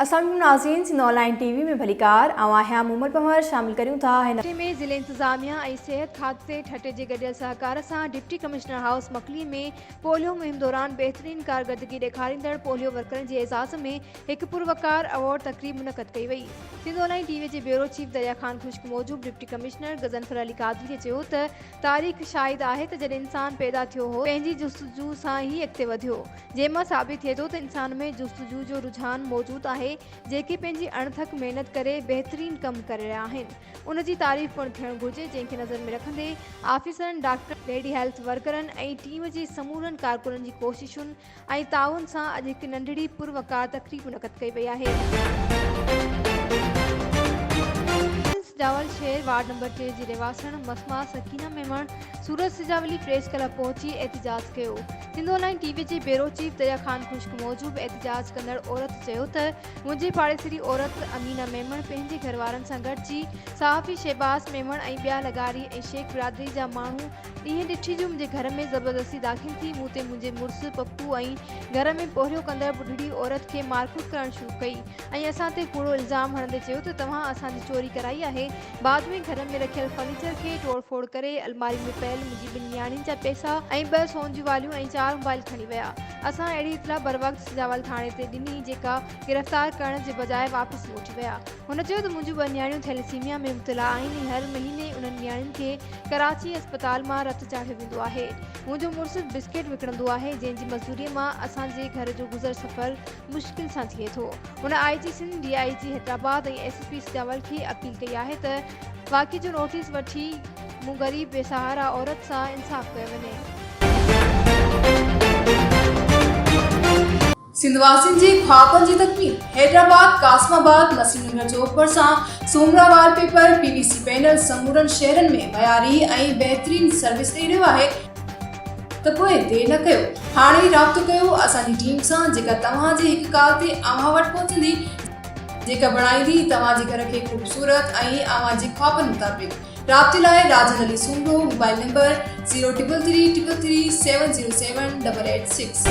اسلام عليڪم ناظرين سنڌ آنلائن ٽي وي ۾ ڀليڪار آئون آهيان محمد پنهور شامل ڪريون ٿا هن هفتي ۾ ضلعي انتظاميا ۽ صحت خاڪي ٺٽي جي گڏيل سهڪار سان deputy commissioner house Makli ۾ polio مهم دوران بهترين ڪارگردگي ڏيکاريندڙ پوليو ورڪرن جي اعزاز ۾ هڪ پروقار ايوارڊ تقريب منعقد ڪئي وئي سنڌ آنلائن ٽي وي جي بيورو چيف دريا خان خشڪ موجب ڊپٽي ڪمشنر غضنفر علي قادري چيو ته تاريخ شاهد آهي ته جڏهن انسان پيدا ٿيو هو، پنهنجي جستجو سان ئي اڳتي وڌيو. جنهن مان ثابت ٿئي ٿو ته انسان ۾ جستجو جو رجحان موجود آهي، جيڪي پنهنجي اڻ ٿڪ محنت ڪري بهترين ڪم ڪري رهيا آهن. ان جي تعريف پڻ ٿيڻ گهرجي، جنهن کي نظر ۾ رکندي آفيسرن، ڊاڪٽرن، ليڊي هيلٿ ورڪرن ۽ ٽيم جي سمورن ڪارڪنن جي ڪوششن، ۽ تعاون سان اڄ هڪ ننڍڙي پر وقار تقريب منعقد ڪئي وئي آهي. پرنس جاول شهر وارڊ نمبر ٽي جي رهواسڻ مسما سڪينه ميمڻ سورج سجاولي پريس ڪلب پهچي احتجاج ڪيو. سنڌو لائين ٽي وي جي بيورو چيف دريا خان خشڪ موجب احتجاج ڪندڙ عورت چيو ته منهنجي پاڙيسري عورت امينه ميمڻ پنهنجي گهروارن سان گڏجي صحافي شهباز ميمڻ ۽ ٻيا لغاري ۽ شيخ برادري جا ماڻهو ايئن ڏٺي جو منهنجي گهر ۾ زبردستي داخل ٿي مون تي منهنجي مڙس، پڦو ۽ گهر ۾ پورهيو ڪندڙ ٻڍڙي عورت کي مارڪوٽ ڪرڻ شروع ڪئي ۽ اسان تي ڪوڙو الزام هڻندي چيو ته توهان اسان جي چوري ڪرائي آهي. بعد ۾ گهر ۾ رکيل فرنيچر کي ٽوڙ ڦوڙ ڪري الماري ۾ پيل منهنجي ٻن نياڻين جا پئسا ۽ ٻه سون جون واليون ۽ چار موبائل کڻي ويا. اسان اهڙي اطلاع بروقت سجاول ٿاڻي تي ڏني جيڪا گرفتار ڪرڻ جي بجاء واپس موٽي ويا. هن چيو ته منهنجون ٻه نياڻيون ٿيليسيميا ۾ مبتلا آهن ۽ هر مهيني انهن نياڻين کي ڪراچي اسپتال مان رت چاڙهيو ويندو آهي. منهنجو مڙس بسڪيٽ وڪڻندو آهي، جنهن جي مزدوريء مان اسان جي گهر جو گذر سفر مشڪل سان ٿئي ٿو. هن I G Sindh, D I G Hyderabad ۽ S S P Sajawal کي اپيل ڪئي آهي ته واقعي جو نوٽيس وٺي مون غريب بي سهارا عورت سان انصاف ڪيو وڃي. سنڌ واسين جي خوابن جي تڪميل حيدرآباد قاسم آباد مسي نگر چوڪ ڀرسان Soomra wallpaper P V C panel سمورن شهرن ۾ معياري ۽ بهترين سروس ڏئي رهيو آهي ته پوء دير نه ڪيو هاڻي ئي رابطو ڪيو اسان جي ٽيم سان جيڪا توهان جي هڪ ڪال تي اوهان وٽ پهچندي جيڪا بڻائيندي توهان جي گهر کي خوبصورت ۽ اوهان جي خوابن مطابق. رابطي لاء Rajan Ali Soomro mobile number zero triple three triple three seven zero seven double eight six.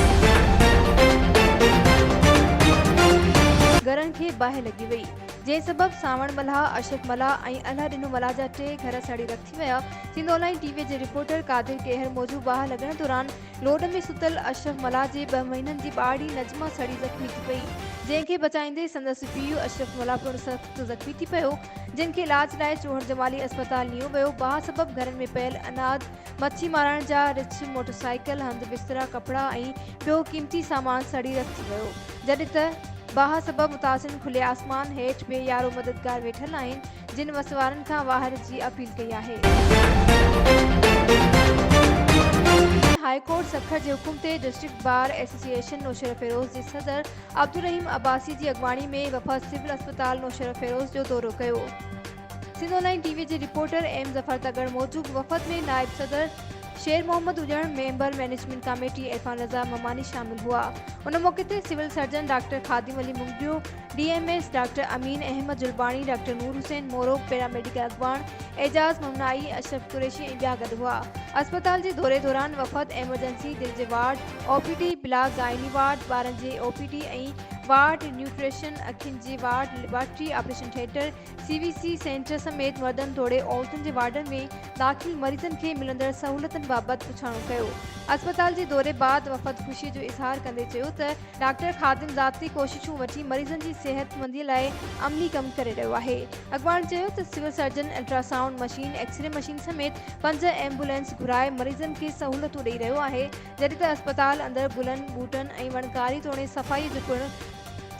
گهرن کي باهه لڳي وئي جنهن سبب سانوڻ ملاح، اشرف ملاح ۽ الهه ڏنو ملاح جا ٽي گهر سڙي رک ٿي ويا سنڌآن لائين ٽي وي جي رپورٽر قادر ڪيهر موجب باهه لڳڻ دوران لوڏ ۾ ستل اشرف ملاح جي ٻه مهينن جي ٻارڙي نجمه سڙي زخمي ٿي پئي جنهن کي بچائيندي سندس پيء اشرف ملاح پڻ سخت زخمي ٿي پيو جن کي علاج لاء چوهڙجمالي اسپتال نيو ويو، باهه سبب گهرن ۾ پيل اناج، مڇي مارڻ جا رڇ، موٽرسائيڪل، هنڌ بسترا، ڪپڙا ۽ ٻيو قيمتي سامان سڙي رک ٿي ويو، جڏهن ته باهه سبب متاثرين کلي آسمان هيٺ بي يارو مددگار ويٺل آهن، جن وس وارن کان واهر جي اپيل ڪئي آهي. هاء ڪورٽ سکر جي حڪم تي ڊسٽرڪٽ بار ايسوسيئيشن نوشهروفيروز جي صدر عبدالرحيم عباسي جي اڳواڻي ۾ وفد سول اسپتال نوشهروفيروز جو دورو ڪيو. سنڌ آن لائين ٽي وي جي رپورٽر ايم ظفر تڳڙ موجب وفد ۾ نائب صدر Sher Muhammad Ajjan, member management committee Irfan Raza Mamani شامل هئا. ان موقعي تي civil surgeon doctor Khadim Ali Magdario, D M S doctor Amin Ahmed Jalbani, doctor Noor Hussain Moro, paramedical اڳواڻ اعجاز ممنائي، اشرف قريشي ۽ ٻيا گڏ هئا. اسپتال جي دوري دوران وفد ايمرجنسي، دل جي ward, O P D block gynae ward ٻارن جي O P D ۽ ward nutrition اکين جي ward laboratory operation theatre C V C centre سميت مردن توڙي عورتن جي وارڊن ۾ داخل مريضن کي ملندڙ سهولتن بابت پڇاڻو ڪيو اسپتال جي دوري بعد وفد خوشي جو اظهار ڪندي چيو ته ڊاڪٽر خادم ذاتي ڪوششون وٺي مريضن جي صحت مندي لاء عملي ڪم ڪري رهيو آهي اڳواڻ چيو ته civil surgeon ultra sound machine x-ray machine سميت پنج ايمبولينس گهرائي مريضن کي سهولتون ڏئي رهيو آهي جڏهن ته اسپتال اندر گلن، ٻوٽن ۽ وڻڪاري توڻي صفائيء جو پڻ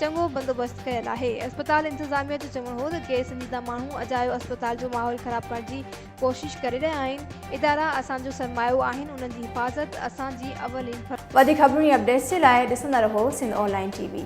چڱو بندوبست ڪيل آهي. اسپتال انتظاميه جو چوڻ هو ته غير سنجيده ماڻهو اجايو اسپتال جو ماحول خراب ڪرڻ جي ڪوشش ڪري رهيا آهن، ادارا اسان جو سرمايو آهن انهن جي حفاظت اسان جي اولين فرض آهي. وڌيڪ خبرون ۽ اپڊيٽس جي لاء ڏسندا رهو سنڌ آن لائين ٽي وي.